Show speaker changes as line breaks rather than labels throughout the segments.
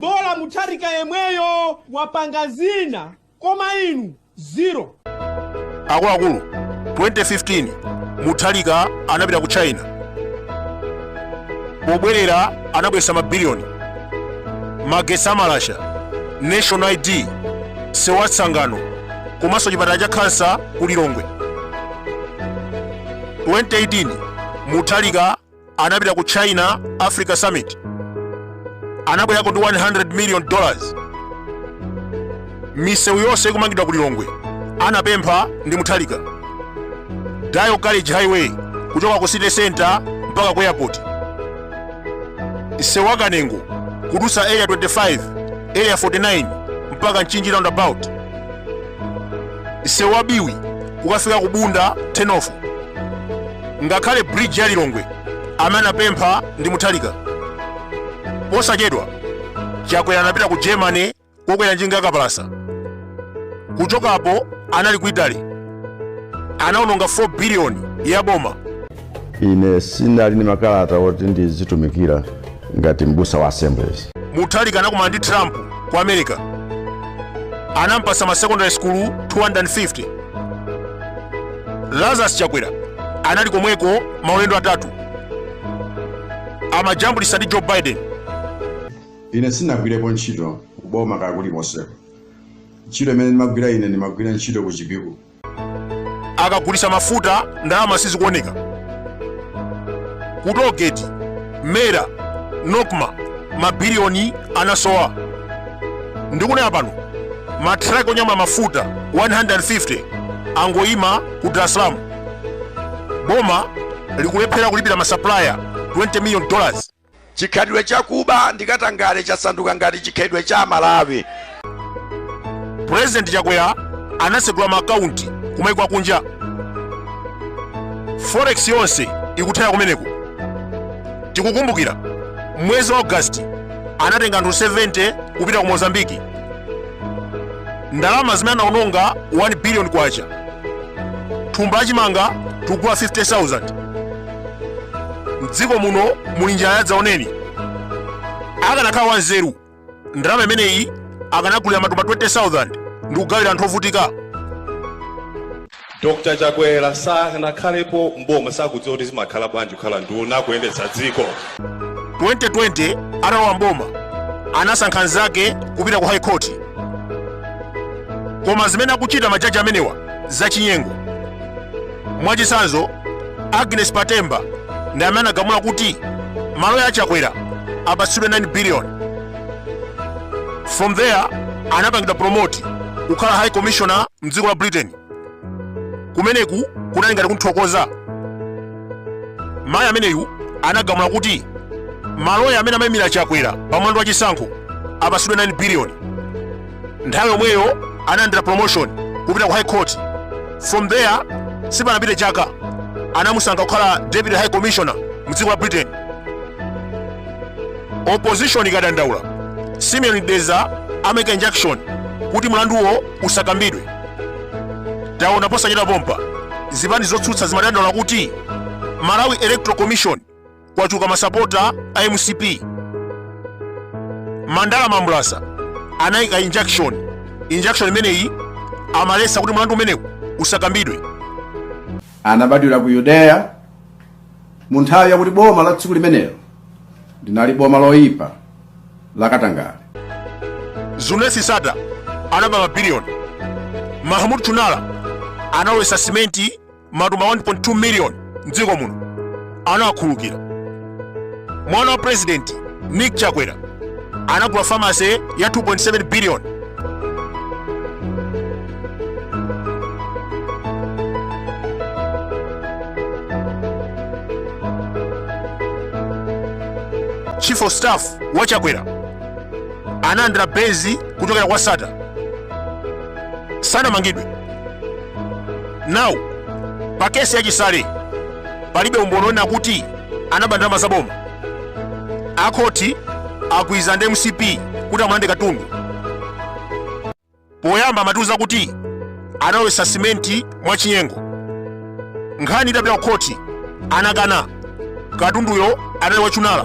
Bola mutharika yemweyo wapanga zina koma inu zero.
Akuluakulu, 2015 Mutharika anapita ku China. Pobwerera anabweretsa mabiliyoni, magetsi amalasha, national ID, sewu wa Tsangano komanso chipatala cha khansa ku Lilongwe. 2018 Mutharika anapita ku china africa summit anabwerako ndi 100 million dollars misewu yonse ikumangidwa ku lilongwe anapempha ndi muthalika dayo college highway kuchoka ku city center mpaka ku airport msewu wa kanengo kudutsa area 25 area 49 mpaka mchinji roundabout msewu wa biwi kukafika ku bunda turn off ngakhale bridge ya lilongwe amene anapempha ndi muthalika posachedwa chakwera anapita ku germany kokwera njinga yakapalasa kuchokapo anali ku italy anaononga 4 biliyoni ya boma
ine sinali ndi makalata oti ndizitumikira ngati m'busa wa assemblies muthalika anakumana
ndi trump ku america anampasa ma secondary school 250 lazarus chakwera anali komweko maulendo atatu amajambulitsa ndi joe
biden ine sinagwirepo ntchito kuboma kaya kulikonse ntchito imene ndimagwira ine ndimagwira ntchito ku chipiku
akagulitsa mafuta ndalama sizikuoneka ku tollgate mera nocma mabiliyoni anasowa ndikunena pano matraki onyamula mafuta 150 angoyima ku dar es salaam boma likulephera kulipira masapulaya 20 million dollars Chikhalidwe
cha kuba ndi katangale chasanduka ngati chikhalidwe cha Amalawi. Pulezidenti
Chakwera anatsegula ma akaunti kumaiko akunja. Forex yonse ikuthera kumeneko. Tikukumbukira mwezi wa August anatenga anthu 70 kupita ku Mozambique. Ndalama zimene anaononga 1 billion kwacha. Thumba la chimanga tikugula 50,000. mdziko muno muli njala yadzaoneni akanakhala wanzeru ndalama imeneyi akanagulira matumba 20000 ndi kugawira anthu ovutika
dr chakwera sanakhalepo mboma sakudziwa kuti zimakhala bwanji kukhala nduna kuyendetsa dziko
2020 atalowa mboma anasankha anzake kupita ku high court koma zimene akuchita majaji amenewa zachinyengo mwachitsanzo agnes patemba ndi amene anagamula kuti maloya a chakwera apatsidwe 9 billion from there anapangidwa promote kukhala high commissioner mdziko la britain kumeneku kunali ngati kunthokoza mayi ameneyu anagamula kuti maloya amene amayimira chakwera pa mlandu wa chisankho apatsidwe 9 billion nthawi yomweyo analandira promotion kupita ku high court from there sipanapite chaka anamusankha kukhala deputy high commissioner mu dziko la britain opposition ikadandaula simeon mdeza amayika injunction kuti mlanduwo usakambidwe taona posachedwa pompa zipani zotsutsa zimadandaula kuti malawi electoral commission kwachuluka masapota a mcp mandala mambulasa anayika injunction injunction imeneyi amaletsa kuti mlandu umenewu usakambidwe
anabadwira ku yudeya mu nthawi yakuti boma la tsiku limenelo linali boma loyipa la
katangale zuneth sattar anaba mabiliyoni mahmud chunara analowetsa simenti matumba 1.2 miliyoni mdziko muno anawakhulukira mwana wa president nick chakwera anagula pharmacy ya 2.7 biliyoni chief of staff wa chakwera analandira benz kuchokera kwa sattar sanamangidwe now pa case ya chisale palibe umboni wonena kuti anaba ndalama za boma akhoti agwirizana ndi mcp kuti amulande katundu poyamba amatiuza kuti analowetsa simenti mwachinyengo nkhani itapita ku khoti anakana katunduyo anali wa chunara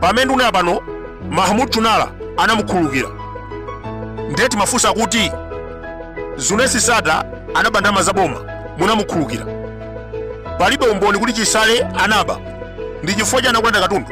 pamene ndikunena pano mahmud chunara anamukhululukira nde timafunsa kuti zuneth sattar anaba ndalama za boma munamukhululukira palibe umboni kuti chisale anaba ndi chifukwa chani akulanda katundu